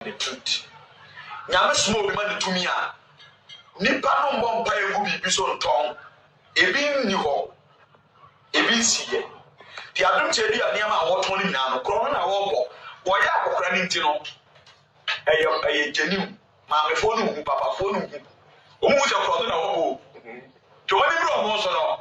The truth. Nyame soma obi ma no tumi a, nnipa no mmɔ mpaeɛ ngu biribi so ntɔn. Ebi nni hɔ, ebi nsiiɛ. Deɛ adom kyɛ bi a nneɛma a wɔtɔn no nyinaa no, korɔno na wɔbɔ. Wɔyɛ akɔkora no nti no, ɛyɛ ɛyɛ genuine. Maamefoɔ no nhu, papafoɔ no nhu. Wɔn nhu sɛ korɔno na wɔbɔ o. Deɛ wɔn ani bere wɔn so no.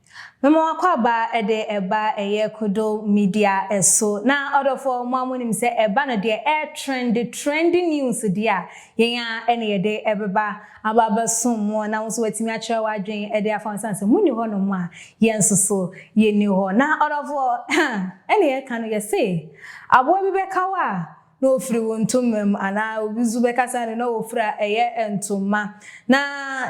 Mema w'akwaaba de ba ɛyɛ Kodo Media so. Na ɔdɔfoɔ mo a mo nim sɛ ɛba no deɛ ɛɛ trend, trending news deɛ a, yɛn ara na yɛde ɛbɛba aba abɛso mo na wo nso watumi akyerɛ w'adwene de afa ho sane sɛ mo nni hɔ nom a, yɛn nso so yɛnni hɔ. Na ɔdɔfoɔ, ɛne yɛka no yɛse, aboa bi bɛka wo a, na ofiri wo ntoma mu, anaa obi nso bɛkasa no na ofiri a ɛyɛ ntoma, na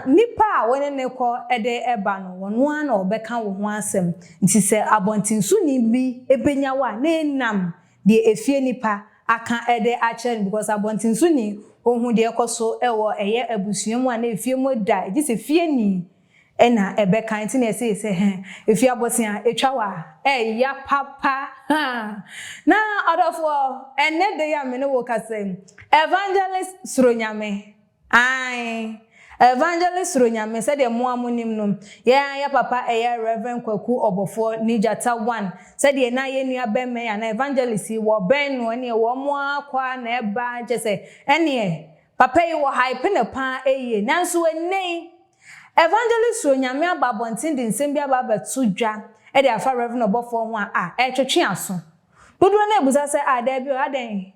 nnipa a wo ne no kɔ de ba no, wɔn ara na wɔbɛka wo ho asɛm. Nti sɛ abɔntensoni bi bɛnya wo a, na ɛnam deɛ efie nnipa aka de akyerɛ no, because abɔntensoni, ɔhu deɛ ɛkɔ so wɔ ɛyɛ abusua mu a na efie mu da, gye sɛ fieni. Ɛna ɛbɛka nti na ɛsee sɛ hɛ ɛfiri abɔsea ɛtwa wa ɛya papa haa na ɔdɔfoɔ ɛnɛ da yi a me ne wo kasa yi Evangelist suro Nyame ae Evangelist suro Nyame sɛdeɛ mo a mo nim no yɛ a yɛ papa ɛyɛ Rev Kwaku Ɔbɔfoɔ ne Gyata one sɛdeɛ na yɛ nua bɛma yi anaa Evangelist yi wɔ bɛn no ɛneɛ wɔn ara kɔ ara na ɛba kyɛ sɛ ɛneɛ papa yi wɔ hype no paa ɛyie nanso ɛnɛ yi Evangelist Suo Nyame aba abɔnten de nsɛm bi aba abɛto dwa de afa Rev ɔbɔfoɔ ho a a ɛretwetwe aso. Dodoɔ no ara bisa sɛ ah daabi o adɛn?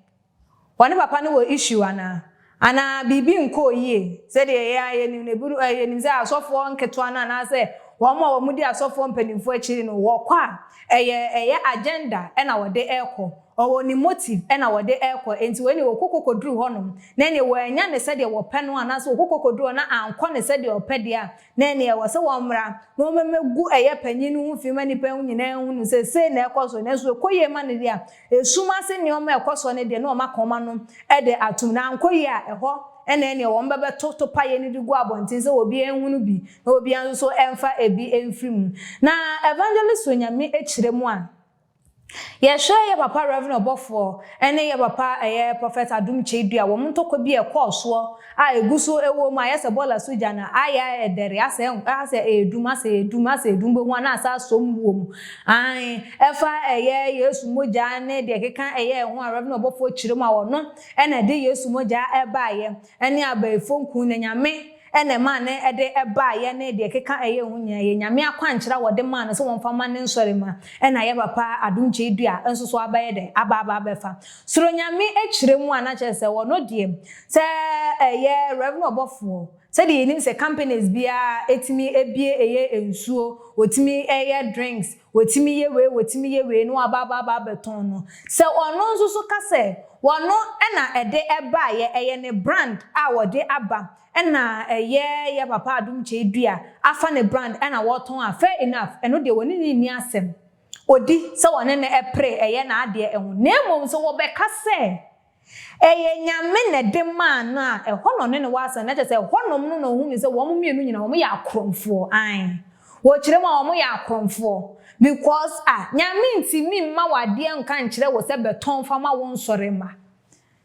Wɔne papa no wɔ issue anaa? Anaa biribi nkɔɔ yie? Sɛdeɛ yɛn ara yɛnim no ebinom eh yɛnim sɛ asɔfoɔ nketewa no anaasɛ wɔn a wɔdi asɔfoɔ mpanimfoɔ akyi no wɔkɔ a ɛyɛ ɛyɛ agenda na wɔde rekɔ. Ɔwɔ ne motive ɛna wɔde ɛkɔ enti wei neɛ ɔkoko kɔduru hɔ nom na ɛneɛ wɔannya no sɛdeɛ wɔpɛ no anaasɛ ɔkoko kɔduru hɔ na ankɔ no sɛdeɛ ɔpɛ deɛ a na ɛneɛ ɛwɔ sɛ wɔmmra na wɔmmɛgu ɛyɛ panyin no ho fi ma nnipa nyinaa nhunu sɛ sei na ɛkɔ soɔ nanso ɛkɔ yie ma no deɛ a ɛsum ase nneɛma a ɛkɔ soɔ no deɛ na wɔn aka wɔn ano de atom na ankɔ yie a ɛhɔ na ɛneɛ wɔn bɛbɛto topaeɛ no de gu abɔnten sɛ obiara nhunu bi na obiara nso so ɛmfa ɛbi ɛmfiri mu na Evangelist Onyame kyerɛ mu a. Yɛhwɛ yɛ papa Rev Ɔbɔfoɔ ɛne yɛ papa ɛyɛ Prophet Adom Kyeidu a wɔn ntɔkwa bi a ɛkɔɔ soɔ a ɛgu so ɛwɔ mu a ayɛ sɛ bɔɔla so gya na ayɛ ɛdɛre asɛ asɛ ɛredum asɛ ɛredum asɛ ɛredum bɛhu a na asɛ asɔ mu wɔ mu aane ɛfa ɛyɛ Yesu mogya ne deɛ ɛkeka ɛyɛ ɛho a Rev Ɔbɔfoɔ kyerɛ mu a ɔno ɛna ɛde Yesu mogya ɛbaeɛ ɛne abayifoɔ nku na Nyame na ɛmaa no de baeɛ ne deɛ ɛkeka ɛyɛ ho nyinaa yɛ Nyame akwankyerɛ a wɔde maa no sɛ wɔmfa ma ne nsɔremma na yɛ papa adom kyeedua nso so abɛyɛ dɛn aba aba abɛfa Soro Nyame kyerɛ mu a na kyerɛ sɛ ɔno deɛ sɛ ɛyɛ Rev ɔbɔfoɔ sɛdeɛ yɛnim sɛ companies biara tumi bue yɛ nsuo wɔtumi yɛ drinks Watumi yɛ wei, watumi yɛ wei, na waba aba aba abɛtɔn no. Sɛ ɔno nso so ka sɛ ɔno na ɛde baeɛ, ɛyɛ ne brand a ɔde aba, ɛna ɛyɛ yɛn papa Adom Kyei-Duah afa ne brand ɛna ɔretɔn a, fair enough, ɛno deɛ wɔne no nni asɛm. Ɔdi sɛ wɔne no pere, ɛyɛ n'adeɛ ho. Na mmom sɛ wɔbɛka sɛ. Ɛyɛ Nyame na ɛde maa no a, ɛhɔ na ɔne no wɔ asɛm, na kyerɛ sɛ ɛhɔnom no na ɔhunuu sɛ wɔn mmienu nyinaa wɔyɛ akorɔmfoɔ, ae, wɔkyerɛ mu a wɔyɛ akorɔmfoɔ, because a, Nyame ntumi mma wo adeɛ nka nkyerɛ wo sɛ bɛtɔn fa ma wo nsɔre mma.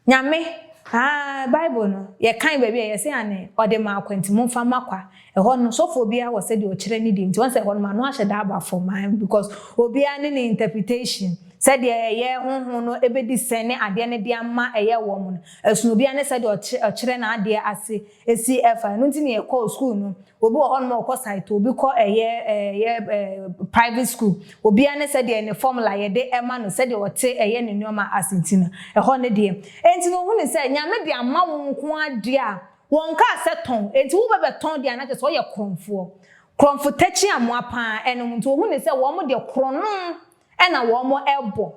Nyame, aah, Bible no, yɛkan baabi a, yɛse anee, ɔde maa kwa nti momfa mma kwa, Ɛhɔ no sɔfoɔ biara wɔ sɛdeɛ ɔkyerɛ ne deɛ nti wahu sɛ ɛhɔ nom ano ahyɛ da aba fam aah because obiara ne ne interpretation sɛdeɛ ɛyɛ honhom no bɛdi sɛ ne adeɛ no de ama ɛyɛ wɔn no ɛsono obiara ne sɛdeɛ ɔkyerɛ ɔkyerɛ n'adeɛ ase ɛsi ɛfa ɛno nti na yɛkɔɔ school no obi wɔ hɔ nom a ɔkɔ saito obi kɔ ɛyɛ ɛyɛ ɛɛ private school obiara ne sɛdeɛ ne formula yɛde ɛma no sɛdeɛ ɔte ɛyɛ ne nnoɔma ase nti no ɛhɔ no deɛ ɛnti no ohunu sɛ nyame de ama wo nko ara deɛ a Wɔnkaa sɛ tɔn, enti wo bɛ bɛtɔn deɛ a na kyerɛ sɛ ɔyɛ korɔnfoɔ. Korɔnfo takyi amoa paa ɛnom nti ɔhu ne sɛ wɔn deɛ korɔnom ɛna wɔn ɛbɔ.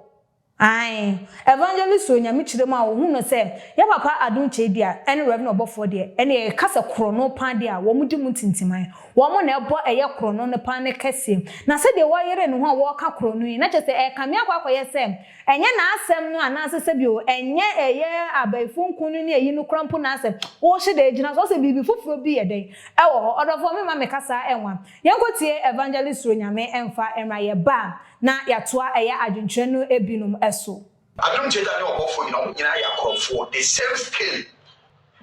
Ae Evangelist o Nyame kyerɛ mu a ɔhu no sɛ yɛ papa Adom Kyei deɛ ɛne Rev Ɔbɔfoɔ deɛ ɛne yɛ ka sɛ korɔno paa deɛ a wɔn di mu ntintiman. Wɔn na ɛbɔ ɛyɛ korɔno no paa ne kɛseɛ. Na sɛdeɛ wayere ne ho a wɔɔka korɔno yi na kyerɛ sɛ ɛɛkame akɔ akɔyɛ sɛ Ɛnyɛ n'asɛm no anaasɛ sɛbi o, ɛnyɛ ɛyɛ abayifo nko no ne ayi no koraa mpo n'asɛm. Wohyɛ da gyina so, ɔsɛ biribi foforo bi yɛ dɛn wɔ hɔ. Ɔdɔfoɔ, me mma me kasa nwa. Yɛnkɔ tie Evangelist Suro Nyame mfa mmra yɛ ba a na yɛatoa ɛyɛ adwenkyerɛ no binom so. Adom Theatre ne ɔbɔfoɔ nyina wɔn nyinaa yɛ akorɔmfoɔ the same scale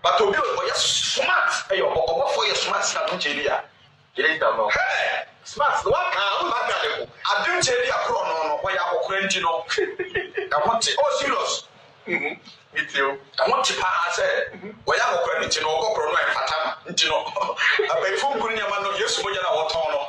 But obi a ɔyɛ smart yɛ ɔbɔ ɔbɔfoɔ yɛ smart sɛ adom kyɛ bi a. Gyidie tam no hɛɛ smart no waka a wonam ade ade ko. Adom kyɛ bi a korɔno no ɔyɛ akɔkora nti no ɛho te oh serious mm me tie o. Ɛho te paa sɛ ɔyɛ akɔkora no nti no ɔkɔ korɔno a ɛmfata no nti no abayifo ngu nneɛma no yesu mogya no a wɔtɔn no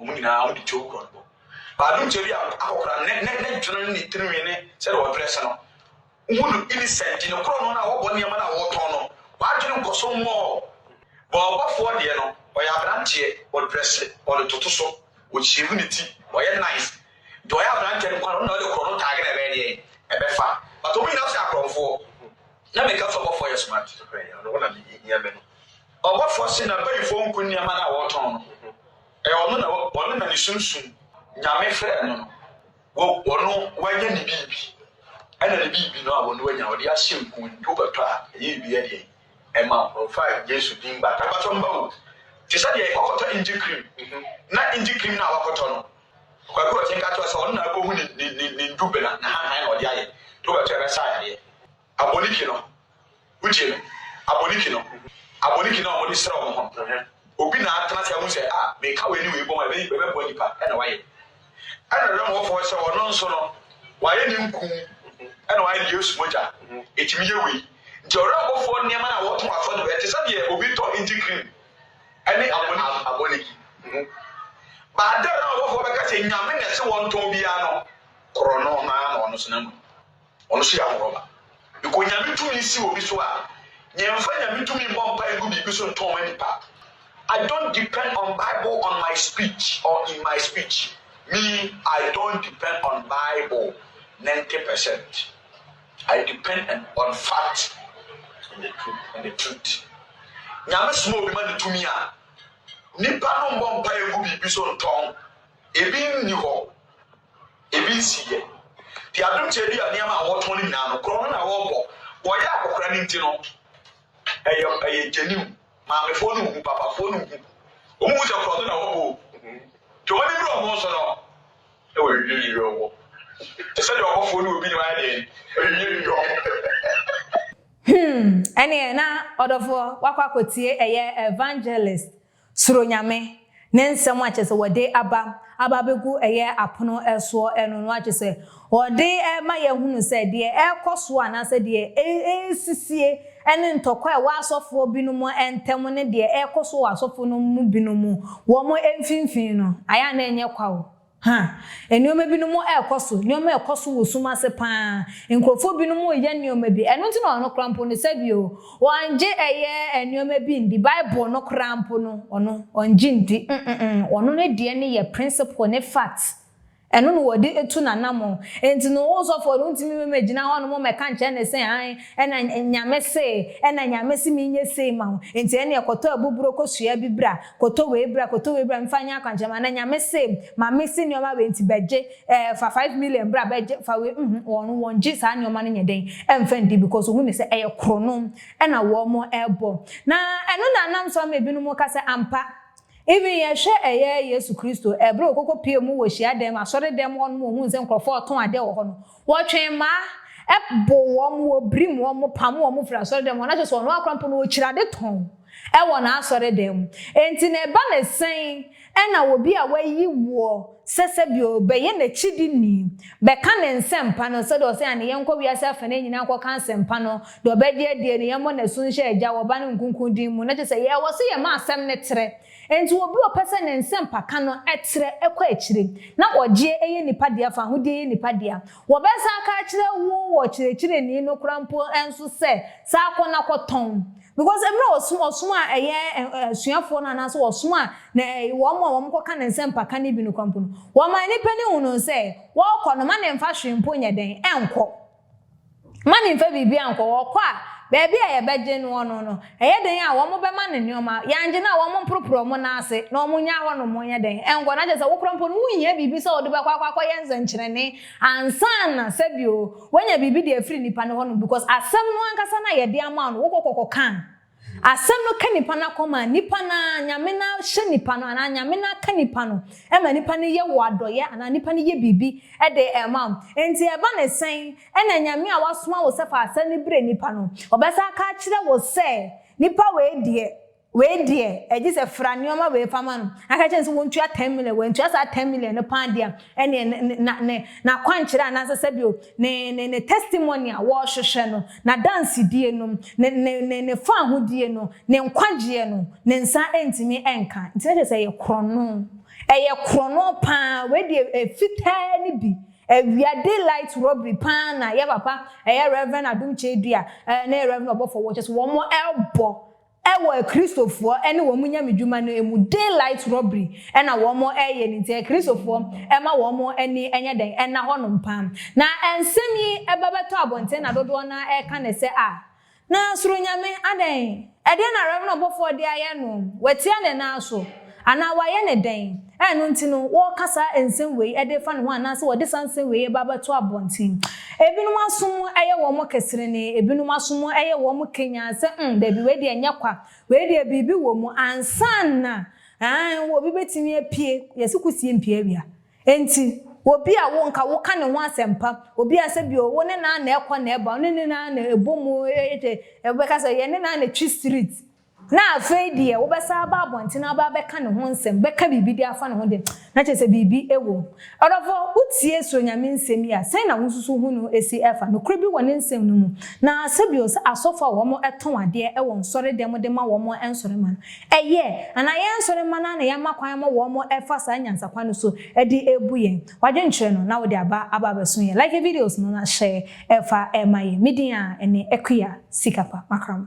Wɔn nyinaa wɔde tuo korɔ no bɔ. Baadumgya bi a akɔkora ne ne ne dwene ne ne tirinwi ne sɛdeɛ ɔdwene sɛ no, wohu no innocent. Ne korɔ no no a wɔbɔ nneɛma no a wɔtɔn no, w'adwene nkɔ so mmɔɔ. Bɔɔlbɔfoɔ deɛ no, ɔyɛ aberanteɛ, ɔdrɛse, ɔde toto so, ɔshave ne ti, ɔyɛ nice. Deɛ ɔyɛ aberanteɛ no koraa no, ɔno na ɔde korɔ no tag na ɛbɛyɛ deɛn? Ɛbɛfa. But wɔn nyinaa nso yɛ akorɔmfoɔ. Na meka sɛ ɔbɔfoɔ yɛ smart. Nokorɛ, ɛno na mehia me no. Ɔbɔfoɔ se na bayifoɔ nku nneɛma no a wɔtɔn no, ɛyɛ ɔno na ɔno na ne sunsum, Nyame frɛɛ no no, wɔ ɔno wanya ne biribi, ɛna ne biribi no a ɔno wanya ɔde ahyɛ nku nti wobɛtɔ a ɛyɛ ebi ɛdeɛn ɛma wo. Ɔmfa Yesu din bata. Ɛbata mma wo. Te sɛ deɛ ɔkɔtɔ Inji cream na Inji cream no a wakɔtɔ no, Kwaku Ɔkye nka kyerɛ wo sɛ ɔno na akɔhu ne ne ne ne ndubena, ne hanhan na ɔde ayɛ nti wobɛtɔ a ɛbɛsa yareɛ. Aboniki no, wogye no? Aboniki no, aboniki no a wɔde srɛ wɔn ho no, obi na atena ase ahu sɛ, ah, meka wei ne wei bom a, ɛbɛ, ɛbɛboa nnipa, ɛna wayɛ. Ɛna dɛm ɔfo hɔ sɛ ɔno nso no, wayɛ ne nku, ɛna wayɛ ne Yesu mogya, ɛtumi yɛ wei. Nti ɔwerɛbɔfoɔ nneɛma no a wɔto asɔ de bɛyɛ, te sɛ deɛ obi tɔ nti cream, ɛne aboniki, aboniki. Ba adɛn na ɔbɔfoɔ bɛka sɛ Nyame na ɛse wɔntɔn biara no, korɔ no, no ara na ɔno nso n'amu no. Ɔno nso yɛ ahorɔba. Because Nyame tumi si obi so a, yɛnfa Nyame tumi mmɔ mpae ngu biribi so ntɔn ma nipa. I don't depend on bible on my speech or in my speech. Me, I don't depend on bible ninety percent. I depend on on fact and the truth and the truth. Nyame soma obi ma no tumi a, nipa no mmɔ mpae ngu biribi so ntɔn. Ebi nni hɔ, ebi nsii yɛ. Deɛ adom kyɛ bi a nneɛma a wɔtɔn no nyinaa no, korɔno na wɔbɔ. Wɔyɛ akɔkora no nti no, ɛyɛ ɛyɛ gyeniw. Maamefoɔ no nhu, papafoɔ no nhu. Wɔn hu sɛ korɔno na wɔbɔ o. Deɛ wɔn ani bere wɔn so no, na wɔawiawiawia wɔn. Te sɛ deɛ ɔbɔfoɔ ne obi ne wɔn ayɛ deɛn, awiawiawia wɔn. Hmm, ɛneɛ na ɔdɔfoɔ wakɔ akɔtie ɛyɛ evangelist Suro Nyame, ne nsɛm a kyɛsɛ wɔde aba aba bɛgu ɛyɛ apono soɔ ɛno no akyɛsɛ wɔde ma yɛhunu sɛ deɛ ɛrekɔ soɔ anaasɛ deɛ ɛresisie ɛne ntɔkwa a ɛwɔ asɔfoɔ binom ntɛm ne deɛ ɛrekɔ soɔ wɔ asɔfoɔ no mu binom wɔn mfimfini no ayɛ a na ɛnyɛ kwa o. Ha, nneɛma binom rekɔ so, nneɛma rekɔ so wɔ sum ase pa ara. Nkurɔfoɔ binom reyɛ nneɛma bi. Ɛno nti na ɔno koraa mpo no, sɛbio, ɔnngye ɛyɛ nneɛma bi nndi, Bible no koraa mpo no, ɔno, ɔnngye nndi. Mm-mm, ɔno ne deɛ no yɛ principle ne fact. Ɛno na ɔde tu n'anamɔn. Nti no, wo sɔfoɔ no, wontumi mmɛgyina hɔnom mmɛka nkyerɛ no sɛ, ae, ɛna Nyame se, ɛna Nyame se menyɛ sei ma wo, nti ɛneɛ kɔtɔ abuburo kɔsua bi bra. Koto wei bra, koto wei bra, mfa nyɛ akwankyerɛma, na Nyame se ma me se nneɛma wei nti bɛgye, eh, fa five million bra bɛgye, fa wei, mm, wɔn, wɔn gye saa nneɛma no nyɛ dɛn ɛmfa ndi because wɔhu no sɛ ɛyɛ korono ɛna wɔn ɛbɔ. Na ɛno na nam so ama ebinom ka sɛ ampa, even yɛhwɛ ɛyɛ Yesu Kristo, ɛbere ɔkɔkɔ pie mu wɔ hyiadan mu, asɔre dan mu hɔ nom, ɔhuu sɛ nkorɔfoɔ ɔtɔn adeɛ wɔ hɔ no, Wɔtwee mmaa, boo wɔn wɔ birim, wɔpam wɔn firii asɔredan mu, na kyerɛ sɛ ɔno ara koraa mpo no ɔkyiri ade tɔn wɔ n'asɔredan mu. Enti na ɛba no sɛn na obi a wɔayi woɔ sɛ sɛdeɛ ɔbɛyɛ n'akyidini, bɛka ne nsɛmpa no, sɛdeɛ ɔse ane yɛnkɔ wiase afanaa nyinaa nkɔka nsɛmpa no, deɛ ɔbɛgye adie no yɛmmɔ no asu nhyɛ Agya, Ɔba ne Nkonkron din mu, na kyerɛ sɛ yɛwɔ so yɛma asɛm no trɛ, Enti obi a ɔpɛ sɛ ne nsɛmpa ka no trɛ kɔ akyire, na ɔgyeɛ yɛ nnipa dea, fahodie yɛ nnipa dea. Wɔbɛsan aka akyerɛ wo wɔ kyerɛkyerɛni no koraa mpo nso sɛ, saa kɔ na kɔ tɔn. Because mmerɛ ɔsom, ɔsom a ɛyɛ asuafoɔ no anaasɛ ɔsom a na ɛyɛ wɔn a wɔn kɔ ka ne nsɛmpa ka no bi no koraa mpo no, wɔma nnipa no hunu sɛ, wɔɔkɔ no, ma ne mfa hwee mpo nyɛ dɛn, ɛnkɔ. Mma no mfa biribiara nkɔ hɔ. Ɔkɔ a, baabi a yɛbɛgye noɔ no no, ɛyɛ dɛn a wɔbɛma no nneɛma? Yɛangye no a, wɔmporoporo wɔn nan ase na wɔnnyaa hɔ nom nyɛ dɛn? Ɛnkɔ. Na kyerɛ sɛ, wo koraa mpo no, wonhia biribi sɛ wode bɛkɔ akɔ akɔyɛ nsɛnkyerɛnne ansa na, sɛbi o, woanya biribi de afiri nnipa no hɔ nom, because asɛm no ankasa no a yɛde ama wo no, wokɔ kɔkɔka a, Asɛm no ka nipa no akɔm a, nipa no ara, Nyame no ara hyɛ nipa no anaa Nyame no ara ka nipa no ma nipa no yɛ wo adɔeɛ anaa nipa no yɛ biribi de ma wo. Enti ɛba ne sɛn na Nyame a wasoma wo sɛ fa asɛm no brɛ nipa no, ɔbɛsan aka akyerɛ wo sɛ nipa wei deɛ, wei deɛ, gye sɛ fra nneɛma wei fa ma no, na ka kyerɛ no sɛ ɔntua ten million, wantua saa ten million no paa deɛ a, ɛne ne, ne, na, ne, n'akwankyerɛ anaasɛ sɛbio, ne, ne, ne testimony a wɔrehwehwɛ no, n'adansedie no, ne, ne, ne, ne faahodie no, ne nkwagyeɛ no, ne nsa ntumi nka. Nti na kyerɛ sɛ ɛyɛ korɔno. Ɛyɛ korɔno pa ara. Wei deɛ ɛyɛ fitaa no bi. Awia daylight robbery pa ara na yɛ papa, ɛyɛ Rev. Adom Kyei Duah, ɛɛ, ne Rev. Ɔbɔfɔwoɔ, kyerɛ sɛ wɔn ɛrebɔ Ɛwɔ akristofoɔ ne wɔn nyamedwuma no mu daylight robbery na wɔn reyɛ no nti akristofoɔ mma wɔn ani nyɛ dɛn nna hɔ nom paa na nsɛm yi ba bɛtɔ abɔnten na dodoɔ no ara reka no sɛ ah na soro nyame adɛn ɛdeɛn na reverend ɔbɔfoɔ de ayɛ no watia ne nan so Anaa wɔayɛ no dɛn? a ɛno nti no wɔka saa nsɛm wei de refa ne ho anaasɛ wɔde saa nsɛm wei ba bɛto abɔnten. Ebinom asom yɛ wɔn keserenee, ebinom asom yɛ wɔn kanyan sɛ, mm, dabi, wei deɛ ɛnyɛ kwa, wei deɛ biribi wɔ mu ansa na, aane, obi bɛtumi apue, yɛse kusie mpue awia. Enti, obi a wo nka woka ne ho asɛmpa, obi a sɛbio wo ne no ara na ɛkɔ na ɛba, wo ne no ara na ɛbɔ mu, wobɛka sɛ yɛne no ara na ɛtwi street, Na afei deɛ wobɛsan aba abɔnten na aba abɛka ne ho nsɛm, bɛka biribi de afa ne ho de, na kyerɛ sɛ biribi wɔ mu. Ɔdɔfo, wotie Suro Nyame nsɛm yi a, sɛn na wosusu ho no si fa? Nokorɛ bi wɔ ne nsɛm no mu. Na sɛ bio sɛ asɔfo a wɔn tɔn adeɛ wɔ nsɔre dɛm de ma wɔn nsɔremma no, ɛyɛ anaa yɛn nsɔremma no ara na yɛama kwan ama wɔn fa saa nyansa kwan no so de rebu yɛn? Wadwen kyerɛ no na wode aba aba abɛso yɛn. Like videos no na hyɛ fa ma yɛn. Me din ara ne Akua Sikapa Makramo.